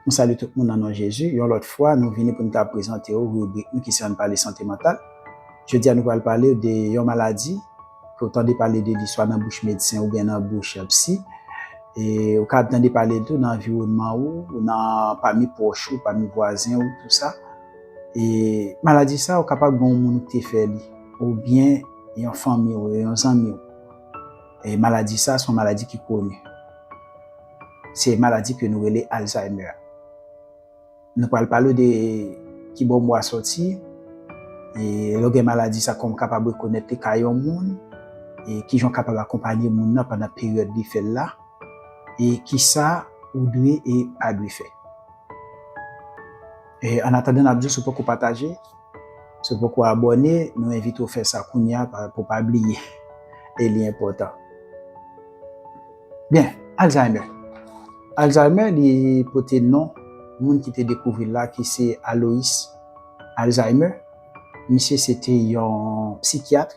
M salye tout moun nan non Jezi. Yon lòt fwa, nou vini pou nou ta prezante ou ribrik nou ki se Ann Pale Sante Mantal. Jodi a nou pral pale ou de yon maladi ke ou tande pale de li swa nan bouch medsen oubyen nan bouch psi. E ou ka ap tande pale l tou nan anviwònman ou, nan pami pwòch ou, pami vwazen ou tou sa. E maladi sa ou kapab gen yon moun ou te fè li oubyen yon fanmi ou, yon zanmi ou. E maladi sa se yon maladi ki koni. Se maladi ke nou rele Alzheimer. Nou pral pale w de ki bò mwa sòti, e lè w gen maladi sa kòman w kapab rekonèt li ka yon moun, e kijan w kapab akonpanye moun nan pandan peryòd li fè l la, e kisa ou dwe e pa dwe fè. E annatandan n ap di w si w poko pataje. Si w poko abòne, nou envite w fè sa kounya pou w pa bliye e li enpòtan. Byen, Alzheimer. Alzheimer li pote non moun ki te dekouvri l la ki se Alois Alzheimer. Misye se te yon psikyat.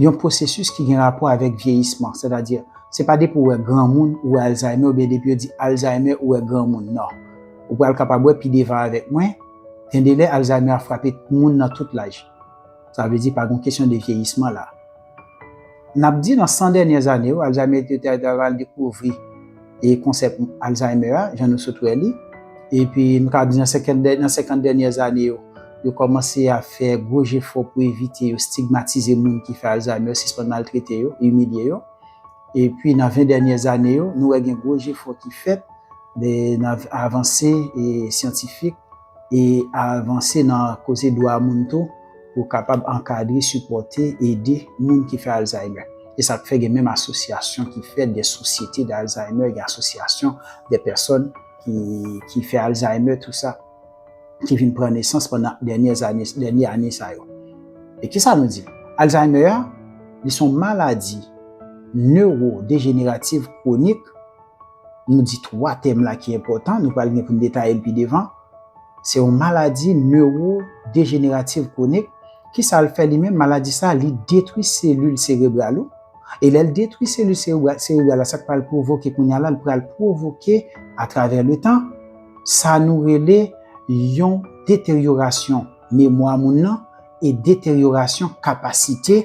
Yon pwosesis ki gen rapò avèk vyeyisman, sètadi, se pa depi ou wè granmoun ou wè Alzheimer oubyen depi yo di Alzheimer ou wè granmoun, non. Ou pral kapab wè pi devan avèk mwen, gendelè Alzheimer ap frape moun nan tout laj. Sa vle di pa gon kesyon de vyeyisman la. N ap di nan 100 dènyè zane yo, Alzheimer yo te pral dekouvri. e konsèp Alzheimer a, jan nou sot wè li. Epi nou ka di nan 50 dè, nan 50 dènyè zane yo, yo kòmanse a fè gwo jefò pou evite yo stigmatize moun ki fè Alzheimer, sispann maltrete yo, imilye yo. Epi nan 20 dènyè zane yo, nou wè gen gwo jefò ki fèt nan avanse syantifik. e avanse nan koze dwa moun tou pou kapab ankadre, sipòte, ede moun ki fè Alzheimer. Se sa k fè gen menm asosyasyon ki fèt, gen sosyete de Alzheimer, gen asosyasyon de pèsòn ki fè Alzheimer tou sa ki vin pran nesans pandan dènyè zane, dènyè ane sa yo. E ki sa nou di? Alzheimer li son maladi newodejenerativ kwonik. Nou di 3 tèm la ki enpòtan, nou pral gen pou n detaye l pi devan. Se yon maladi newodejenerativ kwonik. Ki sa l fè li menm? Maladi sa a, li detwi selil serebral ou. E lè l detwi selil serebral la, sa k pral pwovoke kounye a la? Li pral pwovoke atravè letan, sa nou rele yon deteryorasyon memwa moun nan e deteryorasyon kapasite.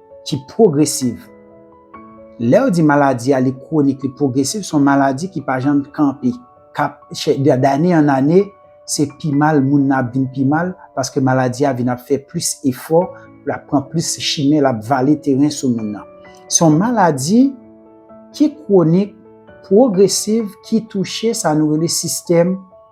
ki pwogresiv. Lè yo di maladi a li kwonik, li pwogresiv, se yon maladi ki pa janm kanpe, k ap chè, dane an ane, se pi mal moun nan ap vin pi mal, paske maladi a vin ap fè plis efò, l ap pran plis chimen, l ap vale teren sou moun nan. Se yon maladi ki kwonik, pwogresiv, ki touche sa nou rele sistèm.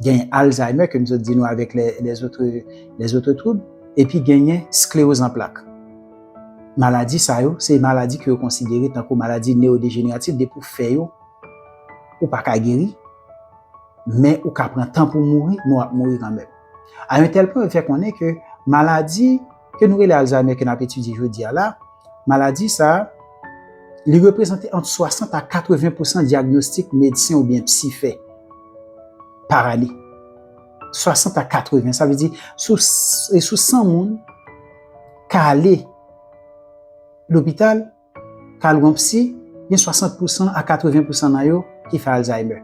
Genyen Alzheimer, ke m sot di nou avèk les autres, les autres troubles, epi genyen sclérose en plaques. Maladi sa yo, se maladi ke yo konsidere tankou maladi neodejeneratif, depi ou fè yo, ou pa ka geri, men ou ka pran tan pou mouri, men w ap mouri kanmenm. A yon tèl pwen yo fè konnen ke maladi, ke nou rele Alzheimer ke n ap etidye jodi a la, maladi sa a, li reprezante ant 60 a 80 pousan dyagnostik medsen oubyen psi fè par ane. 60 a 80, sa vle di sou 100 moun ka ale lopital, Carl Rompsy, gen 60 pousan a 80 pousan nan yo ki fè Alzheimer.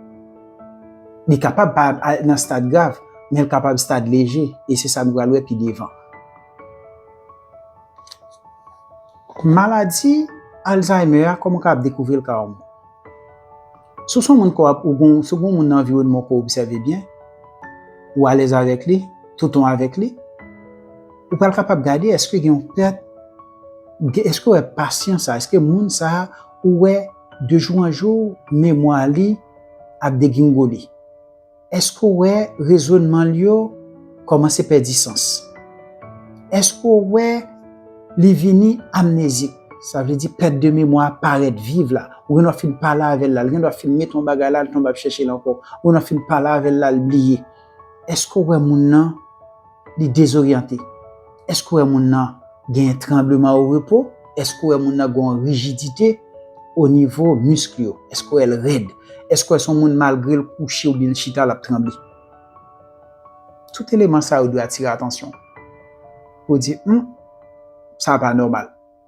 Li kapab pa al nan stad grav, men l kapab stad leje, e se sa nou pral wè pi devan. Maladi Alzheimer a, kòman w kapab dekouvri l ka ou menm? Si w se yon moun kò ap ou gon si w gon moun nan anviwònman w kò obsève byen, ou alèz avèk li, touton avèk li, ou pral kapab gade èske gen yon pèt, èske w wè pasyan sa, èske moun sa ou wè de jou an jou memwa li ap degringole. Èske w wè rezonman l yo kòmanse pèdi sans? Èske w wè li vini amnezik? Sa vle di pèt de memwa a parèt viv la. Ou gendwa fin pale avè l la, l gendwa fin mete yon bagay la, l tonbe ap chèche l ankò. Ou gendwa fin pale avè l la, l bliye. Èske w wè moun nan? li dezoryante. Èske w wè moun nan gen tranbleman o repo? Èske w wè moun nan gen yon rijidite o nivo misk yo? Èske w wè l rèd? Èske w wè se yon moun malgre l kouche oubyen l chita l ap tranble? Tout eleman sa yo dwe atire atansyon w pou w di, Hum, sa a pa nòmal.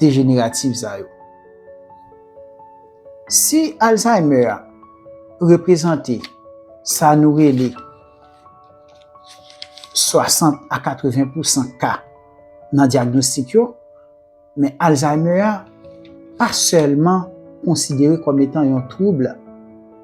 dejenerativ sa yo. Si alzaymè a reprezante sa nou rele 60 a 80 pousan ka nan dyagnostik yo, men alzaymè a pa sèlman konsidere kòm etan yon twoub.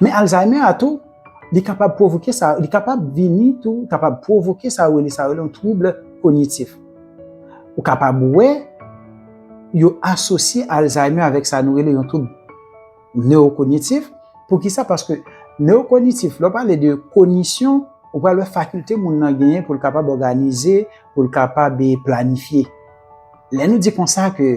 Men Alzheimer a tou, li kapab pwovoke sa, li kapab vini tou, li kapab pwovoke sa yo rele, sa yo rele yon twouble konyitif. Ou kapab wè, yo asosye Alzheimer avèk sa nou rele yon twoub newokonyitif. Pou ki sa? Paske newokonyitif, lè w pale de konyisyon, ou pral wè fakilte moun nan genyen pou l kapab òganize, pou l kapab planifye. Lè nou di kon sa ke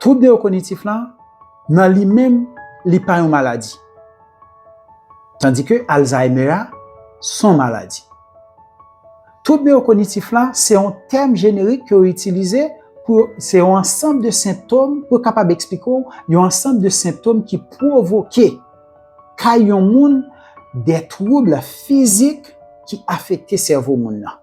Twoub newokognitif la, nan li menm, li pa yon maladi. Tandi ke Alzheimer a, son maladi. Twoub newokognitif la, se yon tèm jenerik ke yo itilize pou yo, se yon ansanm de sentom pou yo kapab eksplike w yon ansanm de sentom ki pwovoke kay yon moun dè twoubl fizik ki afekte sèvo moun nan.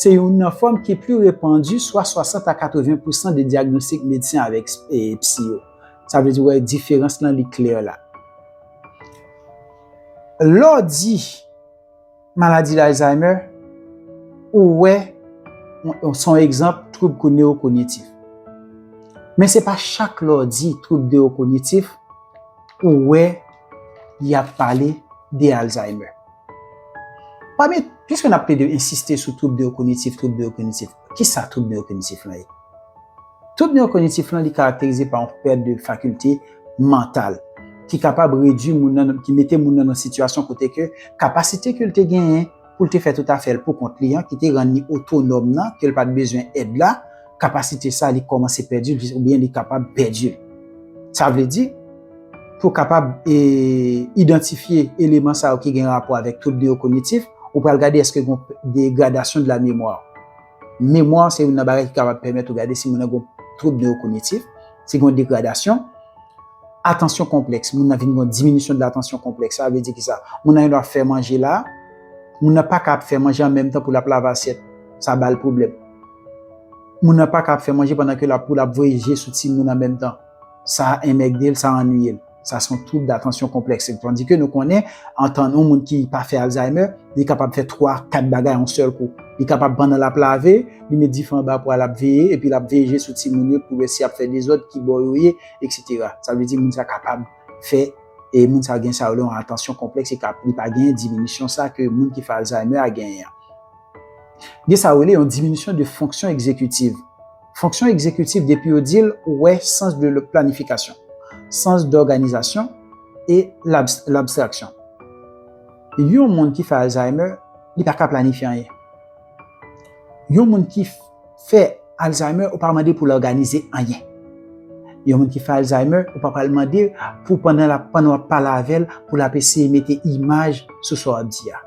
Se youn nan fòm ki pli repandi, swa 60 a 80 pousan de dyagnostik medsen avèk psi yo. Sa vle di wè diferans lan li klè la. Lè w di maladi Alzheimer, ou wè se yon egzanp twoub kou newokognitif. Men se pa chak lè w di twoub newokognitif, ou wè y ap pale de Alzheimer. Pami, piske n ap plede ensiste sou twoub newokognitif, twoub newokognitif, ki sa twoub newokognitif lan ye? Twoub newokognitif lan li karakterize pa yon pèt de fakilte mantal ki kapab redui moun nan, ki mete moun nan nan sitiyasyon kote ke kapasite ke l te genyen pou l te fè tout afè l poukont li an, ki te rann li otonòm nan, ke l pa t bezwen èd la, kapasite sa li kòmanse pèdi l ou byen li kapab pèdi l. Sa vle di, pou kapab idantifye eleman sa yo ki gen rapò avèk twoub newokognitif, ou pral gade èske gen yon degradasyon de la memwa. Memwa se youn nan bagay ki kapab pèmèt ou gade si moun nan gen yon twoub newokognitif, si gen yon degradasyon. Atansyon konplèks, moun nan vin gen yon diminisyon de latansyon konplèks. Sa vle di ki sa? Moun nan gendwa ap fè manje la, moun nan pa ka ap fè manje an menm tan pou l ap lave asyèt, sa ba l pwoblèm. Moun nan paka ap fè manje pandan ke lap pou lap voye je sou timoun an menm tan. Sa enmègde l, sa annwiye l. Sa se yon twoub datansyon konplèks. Tandi ke nou konnen, an tan yon moun ki pa fè Alzheimer, li kapab fè 3, 4 bagay yon sèl kou. Li kapab pandan lap lave, li met dife anba pwa lap veye, epi lap veye je sou timoun yo pou wè si yap fè dezòd, ki bò yo ye, eksetera. Sa vle di moun sa kapab fè, e moun sa gen sa yo rele yon atansyon konplèks e ka li pa gen diminisyon sa ke moun ki fè Alzheimer a genyen an. Gen sa yo rele yon diminisyon de fonksyon egzekitiv. Fonksyon egzekitiv depi yo di l ou wè sans de planifikasyon, sans dòganizasyon e labstraksyon. Yon moun ki fè Alzheimer li pa ka planifye anyen. Yon moun ki fè Alzheimer ou pa mande pou l òganize anyen. Yon moun ki fè Alzheimer ou pa pral mande pou pandan w ap pale avè l pou l ap eseye mete imaj sou sa w ap di a.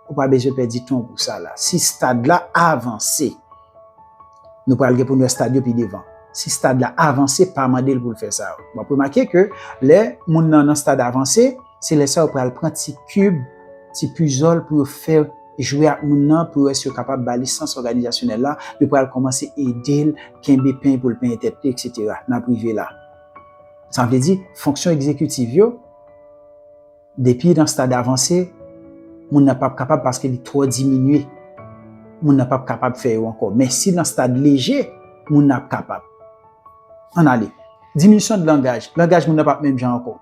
Ou pa bezwen pèdi ton pou sa la. Si stad la avanse, nou pral gen pou nou wè stad yo pi devan. Si stad la avanse, pa mande l pou l fè sa. W ap remake ke lè moun nan nan stad avanse, se lè sa yo pral pran ti kib, ti pizòl pou yo fè jwe ak moun nan pou yo wè si yo kapab ba li sans òganizasyonèl la. Yo pral kòmanse ede l kenbe peny pou l penyen tèt li, eksetera. N ap rive la. Sa vle di, fonksyon egzekitiv yo. Depi nan stad avanse, moun nan pap kapab paske li twò diminye. Moun nan pap kapab fè yo ankò. Men si nan stad leje, moun nan ap kapab. Ann ale. Diminisyon de langaj. Langaj moun nan pap menm jan ankò.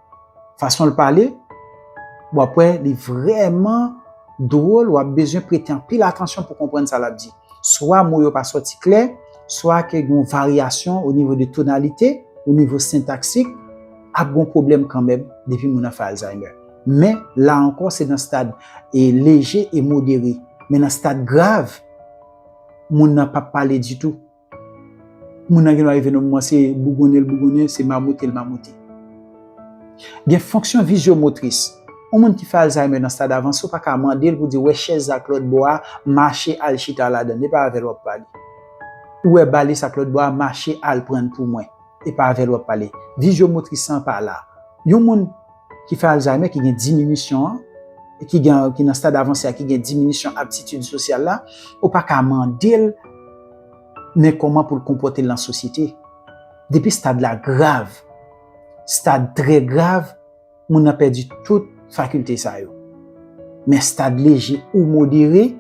Fason l pale, w ap wè li vrèman dwòl, w ap bezwen prete anpil atansyon pou konprann sa l ap di. Swa mo yo pa sòti klè, swa ke gen yon varyasyon o nivo de tonalite, o nivo sentaksik, ap gen yon pwoblèm kanmenm depi moun nan fè Alzheimer. Men, la ankò se nan stad leje e modere. Men nan stad grav, moun nan pap pale ditou. Moun nan gendwa rive nan moman se bougonnen l bougonnen, se mamote l mamote. Gen fonksyon vizyomotris. Yon moun ki fè Alzheimer nan stad avanse ou pa ka mande l pou di wè chèz ak lòt bò a mache al chita ladan l e pa avè l w ap pale. Ou wè balis ak lòt bò a mache al pran l pou mwen e pa avè l w ap pale. Vizyomotris lan pa la. Yon moun ki fè Alzheimer ki gen diminisyon an ki gen ki nan stad avanse a ki gen diminisyon aptitid sosyal la ou pa ka mande l men kòman pou l konpòte l nan sosyete depi stad la grav. Stad trè grav, moun nan pèdi tout fakilte sa yo. Men stad leje ou modere,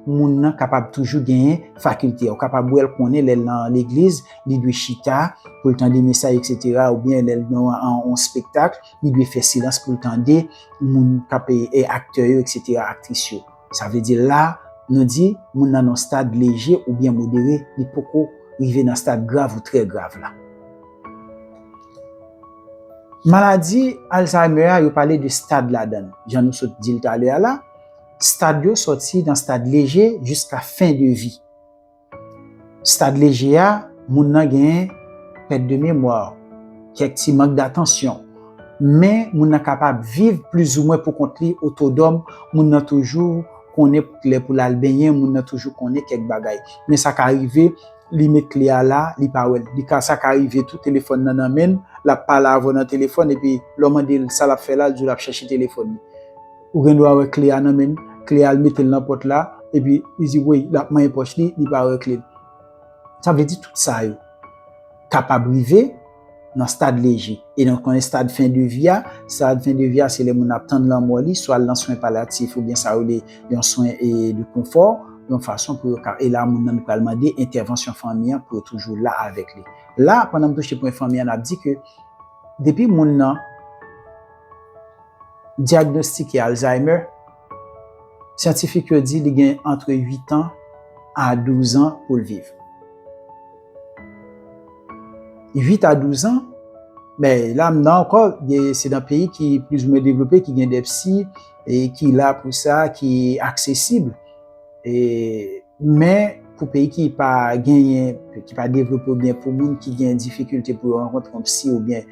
moun nan kapab toujou genyen fakilte. Ou kapab wè l konnen lè l nan legliz, li dwe chita pou l tande mesaj eksetera oubyen lè l nan yon spektak, li dwe fè silans pou l tande moun k ap, aktè yo eksetera, aktris yo. Sa vle di la, nou di moun nan nan stad leje oubyen modere, li poko rive nan stad grav ou trè grav la. Maladi Alzheimer a, yo pale de stad ladan l. Jan nou sot di l talè a la, stad yo sòti nan stad leje jiska fen de vi. Stad leje a, moun nan gen pèt de memwa, kèk ti mank datansyon, men moun nan kapab viv plizoumwen pou kont li, otodòm, moun nan toujou konnen lè pou l al benyen, moun nan toujou konnen kèk bagay. Men sa ka rive li met kle a la, li pa wè l. Li ka, sa ka rive tou telefòn nan nan men l, l ap pale avè w nan telefòn epi lè w mande l sa l ap fè la, l di w l ap chèche telefòn li. Ou gen dwa wè kle a nan men l. Kle a, l mete l nan pòt la, epi li di woy, l ap manyen pòch li, li pa wè kle l. Sa vle di tout sa yo kapab rive nan stad leje. E nou konnen stad fen de vi a, stad fen de vi a se lè moun nan ap tann lanmò li, swa l nan swen palyatif oubyen sa yo rele yon swen de konfò, yon fason pou yo ka, e la moun nan pral mande entèvansyon fanmi an pou yo toujou la avèk li. La, pandan m touche pwen fanmi an, n ap di ke depi moun nan. dyagnostike Alzheimer, syantifik yo di li gen antre 8 an a 12 an pou l viv. 8 a 12 an, men la m nan ankò, se nan peyi ki plizoumwen devlope ki gen dè psi ki la pou sa, ki aksesib. Men, pou peyi ki pa genyen, ki pa devlope oubyen pou moun ki gen difikilte pou yo rankontre yon psi oubyen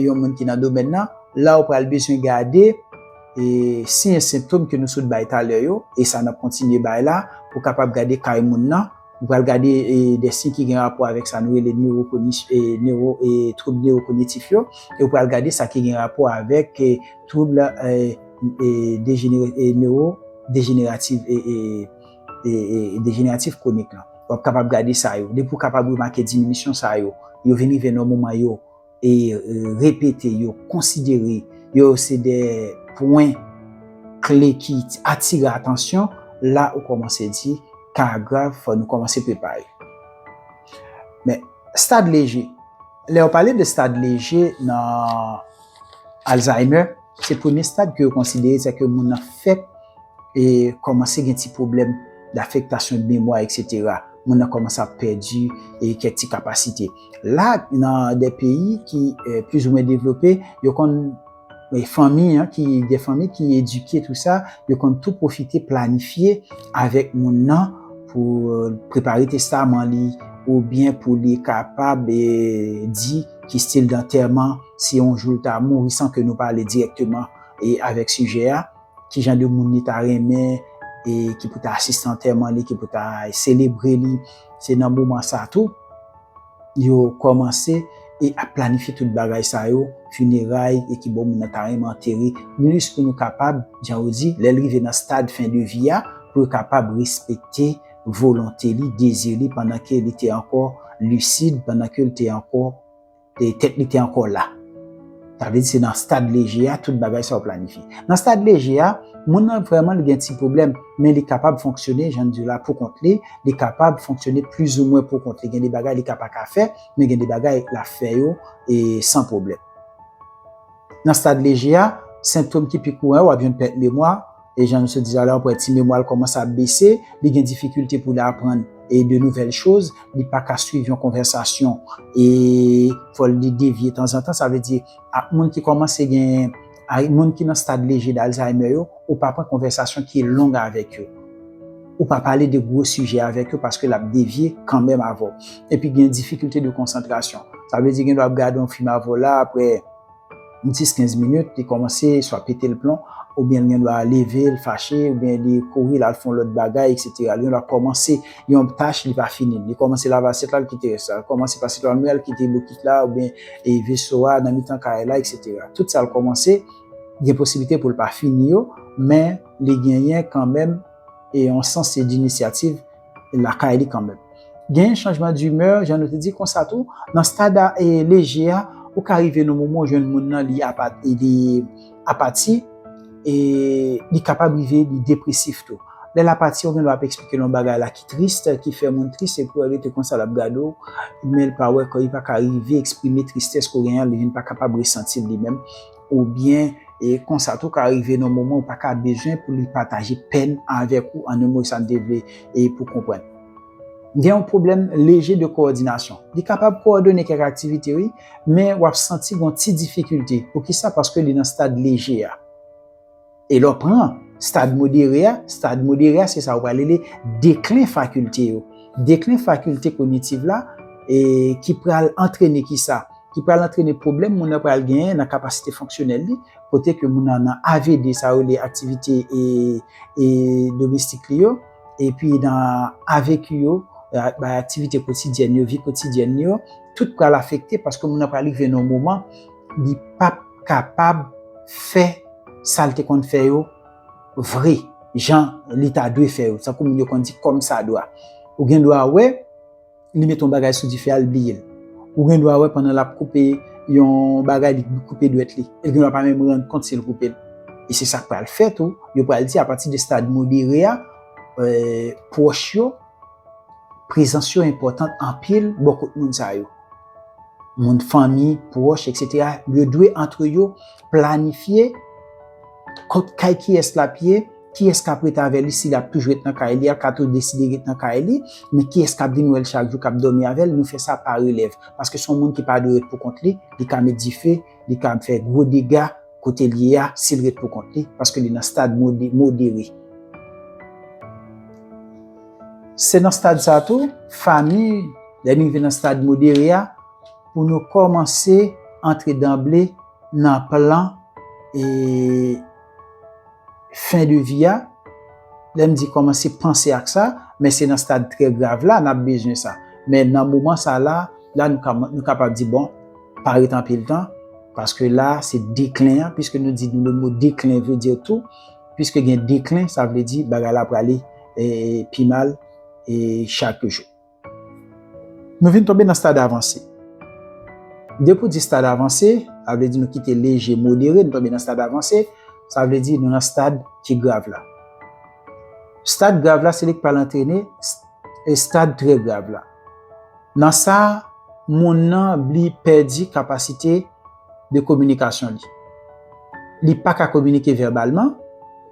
yon moun ki nan domèn nan, la ou pral bezwen gade siy e sentom ke nou sot bay talè yo, e sa nap kontinye bay la, pou kapab gade kay moun nan, ou pral gade de siy ki gen rapò avèk sa nou rele twoub newokognitif yo, e ou pral gade sa ki gen rapò avèk twoub. dejeneratif kwonik lan. W ap kapab gade sa yo. Depi w kapab remake diminisyon sa yo, yo vin rive nan yon moman yo repete, yo konsidere yo se de pwen kle ki atire atansyon, la ou kòmanse di ka a grav, fò nou kòmanse prepare. Men, stad leje. Lè yo pale de stad leje nan. Alzheimer se premye stad ke yo konsidere se ke moun nan fèk e kòmanse gen ti pwoblèm dafektasyon de memwa eksetera. Moun nan kòmanse ap pèdi e kèk ti kapasite. La nan de peyi ki plizoumwen devlope, yo konn e fanmi an ki gen fanmi ki edike tou sa, yo konn tou pwofite planifye avèk moun nan pou prepare testaman li oubyen pou li kapab e di ki stil dantèman. si yon jou l ta mouri san ke nou pale dirèkteman e avèk sijè a, ki jan de moun li ta renmen e ki pou ta asiste antèman li, ki pou ta selebre li, se nan moman sa tou yo kòmanse e ap planifye tout bagay sa yo, fineray e ki bò moun nan ta renmen antere, plis pou nou kapab, jan yo di, lè l rive nan stad fen de vi a, pou yo kapab respekte volonte li, dezi li, pandan ke li te ankò lisid, pandan ke l te ankò. e tèt li te ankò la. Sa vle di se nan stad leje a tout bagay sa yo planifye. Nan stad leje a, moun nan vrèman li gen ti pwoblèm, men li kapab fonksyone, jan n di yo la, pou kont li, li kapab fonksyone plizoumwen pou kont li. Gen de bagay li ka pa ka fè, men gen de bagay l ap fè yo e san pwoblèm. Nan stad leje a, sentom ki pi kouran yo, w ap jwenn pèt memwa, E jan nou sot di la la, wè ti memwa l kòmanse ap bese, li gen difikilte pou l aprann e de nouvèl choz, li pa ka swiv yon konvèsasyon e fò li devye tanzantan. Sa vle di ak moun ki kòmanse gen, ak moun ki nan stad leje d'Alzheimer yo, ou pa pran konvèsasyon ki long avèk yo. Ou pa pale de gwo sijè avèk yo paske l ap devye kanmenm avè w. Epi gen difikilte de konsantrasyon. Sa vle di gen lè w ap gade yon fim avè w la, aprè. 10 15 minit li komanse swa pete l plon oubyen l gen dwa leve l fache oubyen li kouri l al fon lòt bagay eksetera li gen dwa komanse yon tach li pa fini l li komanse lave asyèt la l kite rès la l komanse pase twal mwen l kite bokit la oubyen e veso a nan mitan kay la eksetera tout sa l komanse gen posiblite pou l pa fini yo men li genyen kanmenm e yon sans se dinisyativ lakay li kanmenm. Gen chanjman dimè, jan nou te di konsa tou, nan stad a e leje a, ou ka rive nan moman ou jwenn moun nan li apati e li kapab rive li depresif tou. Lè l apati, ou gen dwa ap eksplike l yon bagay la ki tris, ki fè moun tris epi ou rete konsa l ap gade w, men l pa wè, li pa ka rive eksprime tristès ke w genyen an, li vin pa kapab resanti l li menm. Oubyen, e konsa tou ka rive nan moman ou pa ka bezwen pou li pataje pèn avèk ou, an yon mo sa m te vle e pou konprann. Gen yon pwoblèm leje de kowòdinasyon. Li kapab kowòdone kèk aktivite wi, men w ap santi gen yon ti difikilte. Poukisa? Paske li nan stad leje a. E lè w pran stad modere a, stad modere a se sa yo pral rele deklen fakilte yo. Deklen fakilte konyitiv la ki pral antrene ki sa? Ki pral antrene pwoblèm moun nan pral genyen nan kapasite fonksyonèl li, kote ke moun nan nan avd, sa yo rele aktivite domestik li yo, epi nan avq yo, bay aktivite kotidyèn yo, vi kotidyèn li yo, tout pral afekte paske moun nan pral rive nan yon moman, Li pap kapab fè sa l te konn fè yo vre, jan li ta dwe fè yo, tankou moun yo konn di kòmsadwa. Ou gen dwa wè li mete yon bagay sou dife a, li bliye l. Ou gen dwa wè pandan l ap koupe yon bagay, li koupe dwèt li, e l gen dwa pa menm rann kont si l koupe l. E se sa k pral fè tou, yo pral di apati de stad modere a, pwòch yo, prezans yo enpòtan anpil bò kot moun sa yo. moun fanmi, pwòch, etc. Yo dwe antre yo planifye kot kay kiyès l ap ye, kiyès k ap ret avè li si l ap toujou ret nan kay li a, l ka tou deside ret nan kay li, men kiyès k ap vin wè l chak jou, k ap dòmi avè l, nou fè sa pa relèv. Paske s on moun ki pa dwe ret pou kont li, li ka met dife, li ka fè gwo dega. kote l ye a si l ret pou kont li paske li nan stad modere. Se nan stad sa tou, fami, lè nou rive nan stad modere a, pou nou kòmanse antre danble nan plan e. fen de vi a, lè m di kòmanse panse ak sa, men se nan stad trè grav la n ap bezwen sa. Men nan moman sa la, la nou kapab di bon, pa ret anpil tan, paske la se deklen an, piske nou di nou le mo deklen vle di tou, piske gen deklen sa vle di bagay la prale pi mal chak jou. Nou vin tonbe nan stad avanse. Depi ou di stad avanse, sa vle di nou kite leje, modere, nou tonbe nan stad avanse, sa vle di nou nan stad ki grav la. Stad grav la se li k pral antrene stad trè grav la. Nan sa, moun nan li pèdi kapasite de kominikasyon li. Li pa ka kominike vèbalman,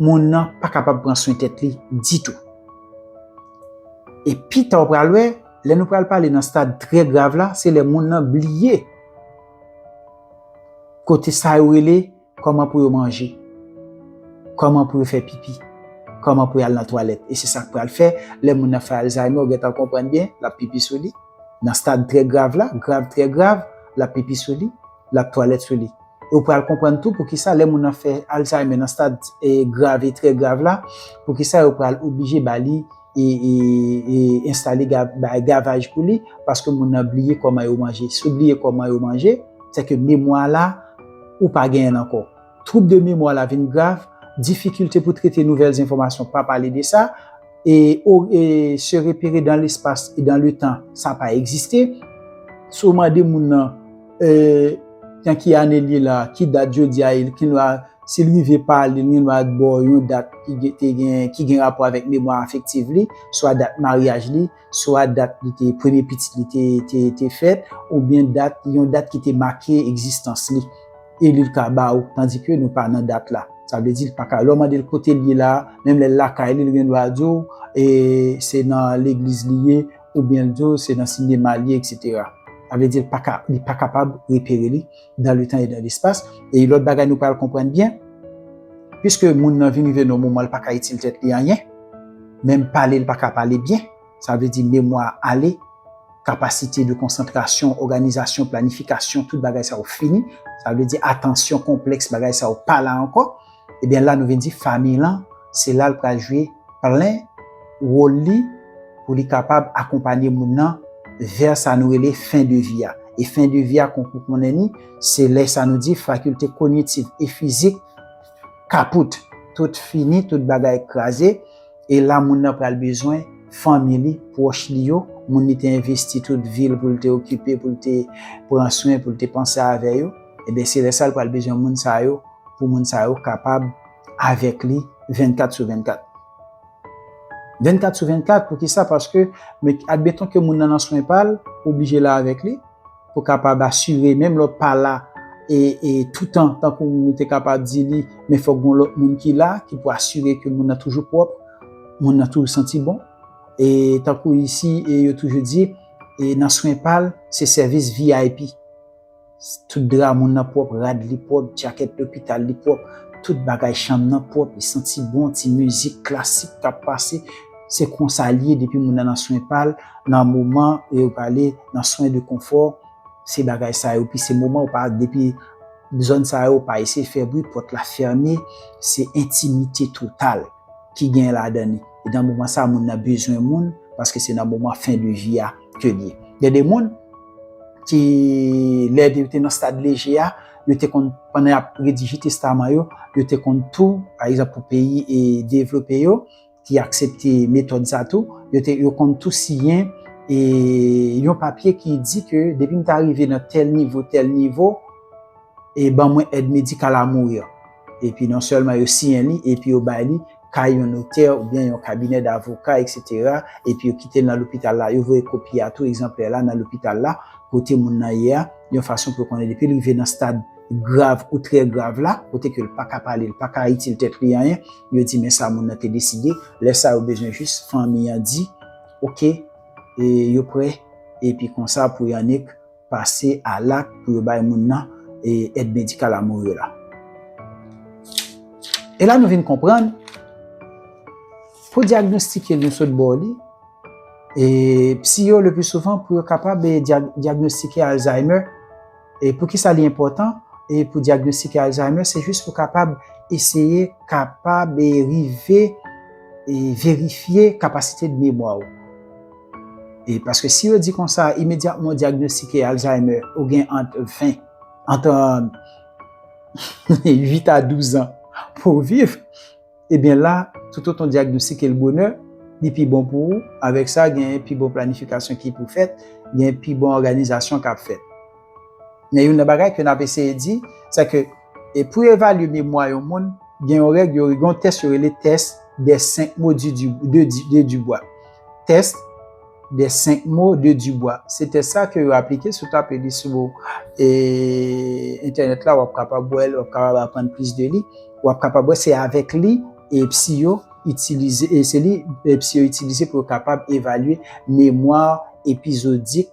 moun nan pa kapab pran swen tèt li ditou. E pi ta w pral wè, lè nou pral pale nan stad trè grav la, se lè moun nan bliye kote sa yo rele kòman pou yo manje, kòman pou yo fè pipi, kòman pou yo al nan twalèt. E se sa k pral fè, lè moun nan fè alzayme, w gen tan konprann byen, l ap pipi sou li. Nan stad trè grav la, grav trè grav, l ap pipi sou li, l ap twalèt sou li. E ou pral konprann tou pou kisa lè moun nan fè Alzheimer nan stad grav e trè grav la, pou kisa yo pral oblije ba li enstale gavaj pou li, paske moun nan bliye kòman yo manje. Si ou bliye kòman yo manje, se ke memwa la ou pa genyen l ankò. Twoub de memwa la vin grav, difikilte pou trete nouvèl enfòmasyon pa pale de sa. e ou e se repere dan lespas e dan le tan sa pa egziste si w mande moun nan e nan ki ane l ye la ki dat jodi a ye l gen dwa si l rive pale l gen dwa ba w yon dat ki te gen ki gen rapò avèk memwa afektiv li swa dat maryaj li. swa dat li te premye pitit li te te fèt oubyen dat yon dat ki te make egzistans li e li ka ba ou tandi ke nou pa nan dat la sa vle di li pa ka lè ou mande l kote l ye la menm lè l lakay li li gen dwa di ou e se nan legliz li ye oubyen l di ou se nan sinema li ye eksetera sa vle di li pa ka li pa kapab repere li. dan le tan e dan lespas, e yon lòt bagay nou pral konprann byen, piske moun nan vin rive nan yon moman li pa ka itil tèt li anyen, menm pale li pa ka pale byen, sa vle di memwa a ale, kapasite de konsantrasyon, òganizasyon, planifikasyon, tout bagay sa yo fini, sa vle di atansyon konplèks bagay sa yo pa la ankò, Ebyen la nou vin di famiy lan se la l pral jwe plen wol li pou li kapab akonpanye moun nan vè sa nou rele fen de vi a. E fen de vi a kon pou konnen ni se lè sa nou di fakilte konyitiv e fizik kapout, tout fini, tout bagay kraze e la moun nan pral bezwen fanmi li, pwòch li yo, moun li te envesti tout vi l pou l te okipe, pou l te pran swen, pou l te panse avè yo. Ebyen se lè sa l pral bezwen moun sa yo pou moun sa yo kapab avèk li 24 sou 24. 24 sou 24 poukisa paske admeton ke moun nan nan swen pa l ou oblije la avèk li pou kapab asire menm lè w pa la e toutan tankou ou te kapab di li men fòk gon lòt moun ki la ki pou asire ke moun nan toujou pwòp moun nan toujou santi bon e tankou isi e yo toujou di e nan swen pa l se sèvis vip. Tout dra moun nan pwòp, rad li pwòp, djakèt lopital li pwòp, tout bagay chanm nan pwòp, li santi bon, ti mizik klasik k ap pase. Se konsa l ye depi moun nan nan swen pa l, nan moman yo pale nan swen de konfò, se bagay sa yo. Pi se moman ou pa depi zòn sa yo, ou pa eseye fè bri, pòt la fèmen, se entimite total. ki gen ladan li. E nan moman sa moun nan bezwen moun paske se nan moman fen de vi a ke li ye. Gen de moun ki lè yo te nan stad leje a, yo te konn pandan yap redije testaman yo, yo te konn tou, pa egzanp pou peyi e devlope yo ki aksepte metòd sa tou, yo te yo konn tou siyen e yon papye ki di ke depi m ta rive nan tèl nivo, tèl nivo e ban mwen èd medikal a mourir. Epi non sèlman yo siyen li, epi yo bay li kay yon notè oubyen yon kabinè davoka, eksetera, epi yo kite l nan lopital la. Yo voye kopi a tou, egzanplè la, nan lopital la, kote moun nan ye a, yon fason pou yo konnen depi l rive nan stad grav ou trè grav la, kote ke l pa ka pale, l pa ka itil tèt li anyen, yo di men sa moun nan te deside. Lè sa yo bezwen jis fanmi an di, oke, e yo prè, epi konsa pou y annik. pase a lak pou yo bay moun nan e èd medikal a mourir la. E la nou vin konprann, pou diagnostike li yo sot bò li, e psi yo le pi souvan pou yo kapab e diagnostike Alzheimer, e pou ki sa li enpòtan, e pou diagnostike Alzheimer, se jis pou kapab eseye kapab e rive e verifye kapasite de memwa ou. E paske si yo di konsa, imedyatman ou dyagnostike Alzheimer, ou gen ant 20, ant 8 a 12 an pou ou viv, ebyen la, toutotan ou dyagnostike l bonè, li pi bon pou ou, avèk sa gen pi bon planifikasyon ki pou fèt, gen pi bon òganizasyon k ap fèt. Men youn nan bagay ke n ap eseye di, se ke, E pou yo evalye memwa yon moun, gen yon règ yo gen yon tès yo rele tès dè senk mo di di de di de Dibwa. Tès dè senk mo de Dibwa. Se tès sa ke yo aplike, si ou tape li sou e entènèt la w ap kapab wè l, w ap kapab aprann plis de li. W ap kapab wè se avèk li e psi yo itilize e se li e psi yo itilize pou yo kapab evalye memwa epizodik.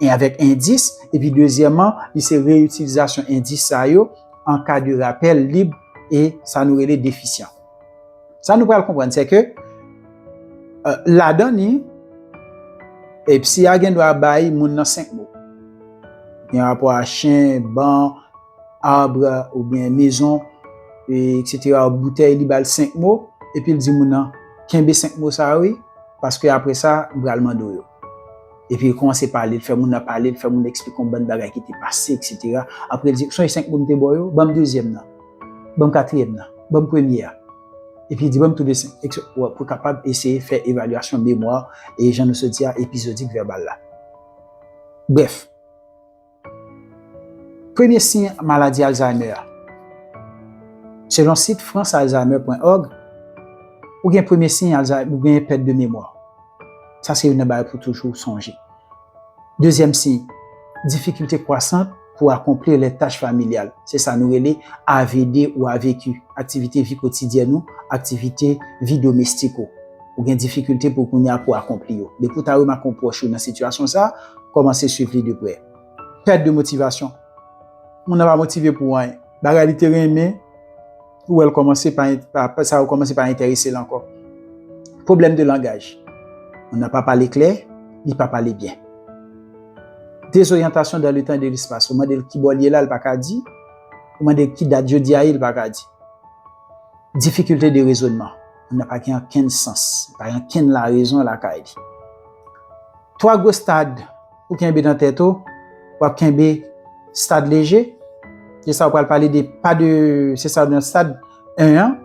e avèk endis, epi dezyèman li se reyitilizasyon endis sa yo an ka de rapèl lib e sa nou rele defisyan. Sa nou pral konprann se ke ladan ni e psi a gen dwa bay moun nan 5 mo. Gen rapò a chen, ban, arbre ou byen mezon e eksetera ou boutèy li bal 5 mo epi l di moun nan kenbe 5 mo sa wi paske apre sa m pral mande w yo. Epi li kòmanse pale, li fè moun nan pale, li fè moun nan eksplike yon bann bagay ki te pase, eksetera. Apre li di, ou sonje senk moun m te ba w yo? Ban m dezyèm nan. Ban m katriyèm nan. Ban m premye a. Epi li di, ban m tou de senk, ekse. Pou kapab eseye fè evalyasyon memwa, e jan nou sot di a, epizodik vèbal la. Brèf. Premye siy maladi Alzheimer Selon sit francealzheimer.org, ou gen premye siy Alzheimer, ou gen pèt de memwa. Sa se youn nan bagay pou toujou sonje. Dezyèm siy, difikilte kwasant pou akonpli lè tach familyal. Se sa nou rele AVD ou avq, aktivite vi kotidyèn ou, aktivite vi domestik ou. Ou gen difikilte pou kounye a pou akonpli yo. Depi w ta remake yon pwòch ou nan sitiyasyon sa a, kòmanse suiv li de prè. Pèt de motivasyon. Moun nan pa motive pou anyen. Bagay li te renmen, ou wè l kòmanse pa, sa yo kòmanse pa enterese l ankò. Pwoblèm de langaj. Moun nan pa pale klè, li pa pale byen. Dezoryantasyon dan le tan e de lespas. Ou mande l ki bò l ye la, li pa ka di. Ou mande l ki dat jodi a ye, li pa ka di. Difikilte de rezonman. Anna pa gen ankenn sans, li pa gen ankenn larezon lakay li. Twa gwo stad ou kenbe nan tèt ou, w ap kenbe stad leje, se sa ou pral pale de pa de, se sa nan stad 1 an,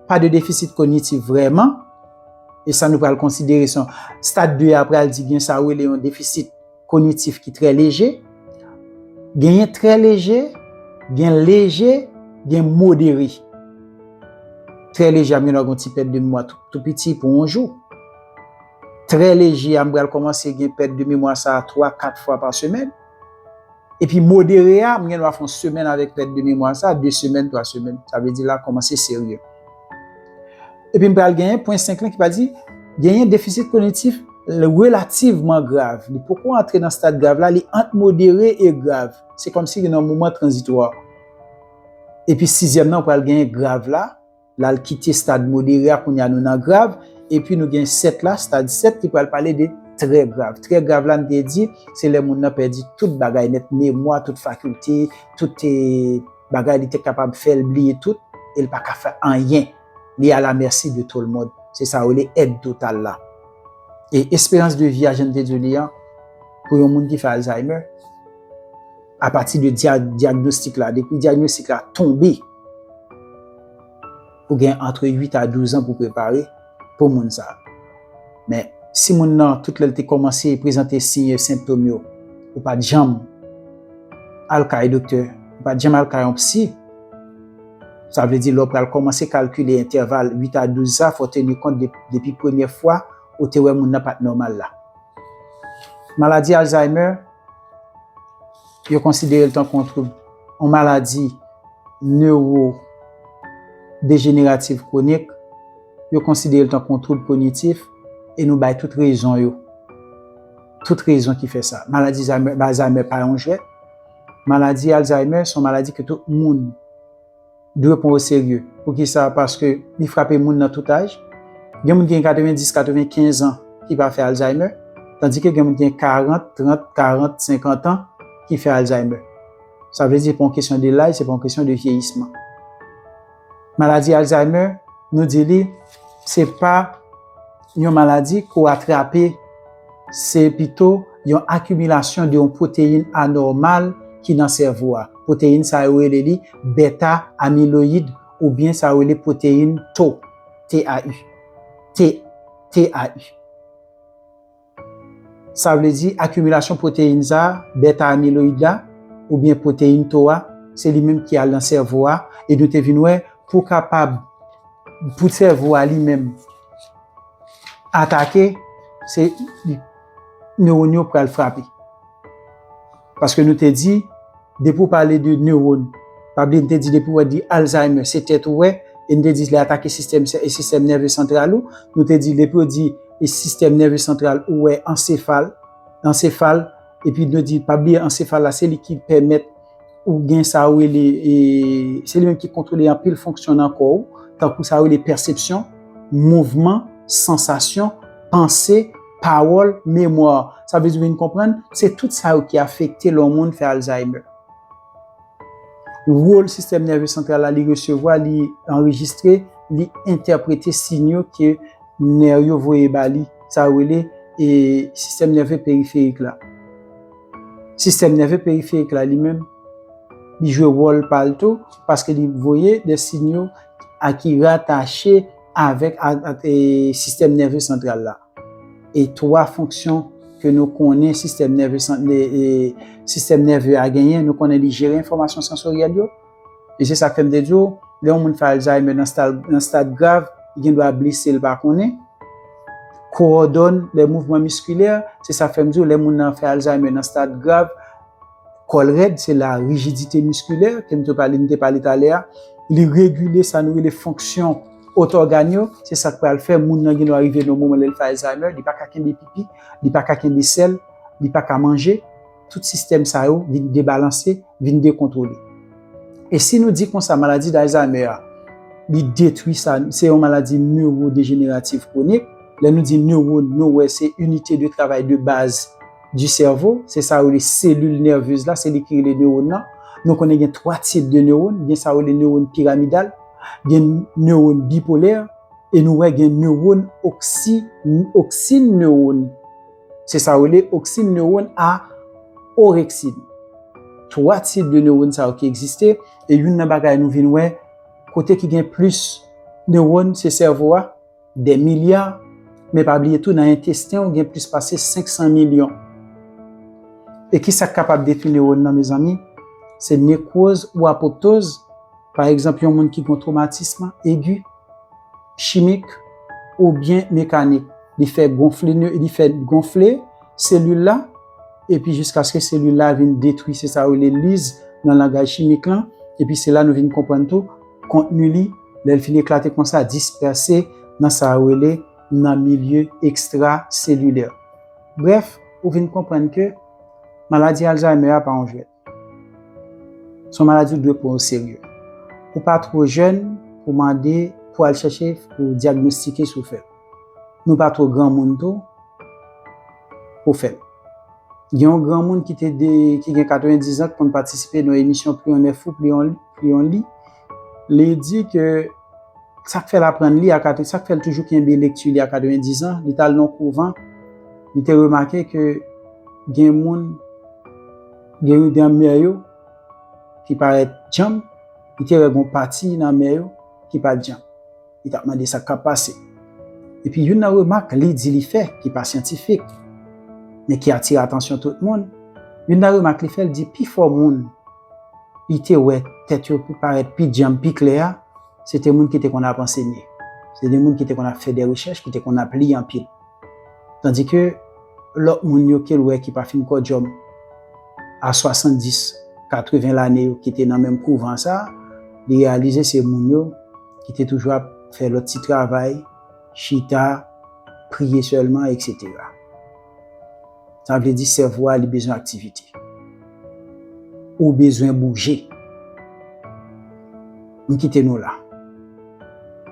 pa de defisit konyitif vrèman, e sa nou pral konsidere son stad 2 a pral di gen sa ou rele yon defisit. kognitif ki trè leje, genyen trè leje, gen leje, gen modere. Trè leje a m gen dwa gen yon ti pèt de memwa tou piti pou yon jou. Trè leje a m pral kòmanse gen pèt de memwa sa a 3, 4 fwa pa semèn. Epi modere a m gen dwa fè yon semèn avèk pèt de memwa sa a, 2 semèn, 3 semèn. Sa vle di la kòmanse serye. Epi m pral genyen pwen 5 lan ki pral di, genyen defisit kognitif relativman grav. Li poko antre nan stad grav la, li ant modere e grav. Se kòm si li nan moman tranzitwa. Epi sizyèm nan ou pral genyen grav la, la l kite stad modere a kounye a nou nan grav, epi nou gen 7 la, stad 7 ki pral pale de trè grav. Trè grav la n te di, se lè moun nan pèdi tout bagay nèt, memwa, tout fakilte, tout. bagay li te kapab fèl bliye tout el pa ka fè anyen li a la merci de tout le monde se sa yo rele aide totale la e espérance de vie a jan m te diw li an pou yon moun ki fè alzheimer a pati de diagnostic la depi diagnostic la tonbe ou gen entre 8 a 12 ans pou prepare pou moun sa. Men, si moun nan tout lè l te kòmanse prezante siy e senptom yo, ou pa t janm al kay doktè, ou pa t janm al kay yon psi, sa vle di lè w pral kòmanse kalkile entèval 8 a 12 sa, fò w teni kont depi premye fwa ou te wè moun nan pa t nòmal la. Maladi Alzheimer. Yo konsidere l tankou yon twoub, yon maladi newodejenerativ kwonik, yo konsidere l tankou yon twoub kognitif e nou bay tout rezon yo, tout rezon ki fè sa. Maladi Alzheimer pa yon jwèt, maladi Alzheimer se yon maladi ke tout moun. dwe pran oserye. Poukisa? Paske li frape moun nan tout aj. Gen moun ki gen 90, 95 an ki pa fè alzaymè, tandike gen moun ki gen 40, 30, 40, 50 an ki fè alzaymè. Sa vle di se pa yon kesyon de laj, se pa yon kesyon de vyeyisman. Maladi alzaymè, nou di li, se pa. Yon maladi ke w atrape se pito yon akimilasyon de yon pwoteyin anòmal ki nan sèvo a. Pwoteyin sa yo rele li beta amiloyid oubyen sa yo rele pwoteyin tau, T-A-U, T-A-U. Sa vle di akimilasyon pwoteyin sa a, beta amiloyid la, oubyen pwoteyin tau a, se li menm ki al nan sèvo a e nou te vin wè pou kapab, pou sèvo a li menm, atake, se newòn yo pral frape. Paske nou te di, depi ou pale de newòn, pa bliye nou te di depi wè di Alzheimer, se tèt ou wè, e nou te di li atake sistèm sistèm nève santral ou, nou te di depi yo di sistèm nève santral ou wè ansefal, ansefal, epi nou di pa bliye ansefal la se li ki pèmèt. Ou gen sa yo rele, se li menm ki kontwole anpil fonksyon nan kò ou, tankou sa yo rele pèsepsyon, mouvman, sansasyon, panse, pawòl, memwa. Sa vle di ou vin konprann, se tout sa yo ki afekte lè yon moun fè Alzheimer. Wòl sistèm nève santral la, li resevwa, li anrejistre, li entèprete sinyo ke nè yo voye ba li, sa yo rele sistèm nève periferik la. Sistèm nève periferik la li menm, li jwe wòl pa l tou, paske li voye de sinyo a ki ratache avèk sistèm nève santral la. E twa fonksyon ke nou konnen sistèm nève a genyen, nou konnen li jere enfòmasyon sansoryèl yo, E se sak fè m te di w, lè yon moun fè Alzheimer nan stad grav, li gen dwa blese l pa konnen. Kowòdòn lè mouvman miskilè, se sak fè m di w lè moun nan fè Alzheimer nan stad grav, kò l rèd, se la rijidite miskilè ke m te pale, m te pale talè a, li regile sa nou rele fonksyon ot ògàn yo, se sak pral fè moun nan gen dwa rive nan yon moman lè l fè Alzheimer, li pa ka kenbe pipi, li pa ka kenbe sèl, li pa ka manje. tout sistèm sa yo vin debalanse, vin dekontwole. E si nou di konsa maladi Alzheimer a, li detwi sa, se yon maladi newodejeneratif kwonik, lè nou di newòn, nou wè se inite de travay de baz di sèvo, se sa yo rele selil nèvez la, se li ki rele newòn nan. Nou konnen gen 3 tip de newòn, gen sa yo rele newòn piramidal, gen newòn bipolè, e nou wè gen newòn oksi, oksine newòn. Se sa yo rele oksin newòn a oreksin. Twa tip de newòn sa yo ki egziste, e youn nan bagay nou vin wè, kote ki gen plis newòn se sèvo a, dè milya, men pa bliye tou nan entesten ou gen plis pase 500 milyon. E ki sa k kapab detwi newòn nan mezanmi? Se nekwoz ou apoptoz, pa egzanp yon moun ki gen yon twomatism egi, chimik oubyen mekanik. Li fè gonfle neu, li fè gonfle selil la epi jiskaske selil la vin detwi. Se sa yo rele liz nan langaj chimik lan. Epi se la nou vin konprann tou kontni li lè l fin eklate konsa, dispèse nan sa yo rele nan milieu extracelulaire. Brèf, ou vin konprann ke maladi Alzheimer a pa yon jwèt. Son maladi ou dwe pran o serye. Ou pa two jèn pou mande pou al chèche pou dyagnostike si w fè l. Nou pa two granmoun tou pou fè l. Gen yon granmoun ki te de ki gen 90 zan ki konn patisipe nan emisyon pli on è fou pli on li. Li di ke sa k fè l aprann li, sa k fè l toujou kenbe lekti li a 90 zan, li t al nan yon kouvan, li te remake ke gen moun, gen yon dan mè yo ki parèt djanm, li te wè gen yon pati nan mè yo ki pa t djanm. Li t ap mande sa k ap pase. Epi youn nan remak li di li fè, ki pa syantifik, men ki atire atansyon tout moun, youn nan remak li fè, li di pifò moun, li te wè tèt yo pi parèt pi dyanm pi klè a, se te moun ki te konn ap ansenye. Se te moun ki te konn ap fè de rechèch, ki te konn ap li anpil. Tandike lòt moun yo ke l wè ki pa fin kòdyòm a 70, 80 lane yo ki te nan menm kouvan sa, li reyalize se moun yo ki te toujou ap fè lòt ti travay, chita, priye sèlman, eksetera. Sa vle di sèvo a li bezwen aktivite. Ou bezwen bouje. M kite nou la.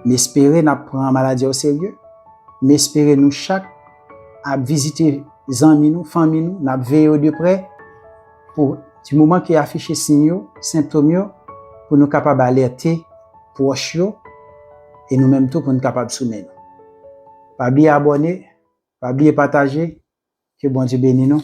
M espere n ap pran maladi a o serye. M espere nou chak ap vizite zanmi nou, fanmi nou, n ap veye yo de prè pou di moman ki afiche siy yo, sentom yo pou nou kapab alète pwòch yo e nou menm tou pou n kapab sounen nou. Pa bliye abòne. Pa bliye pataje, ke Bondye beni nou.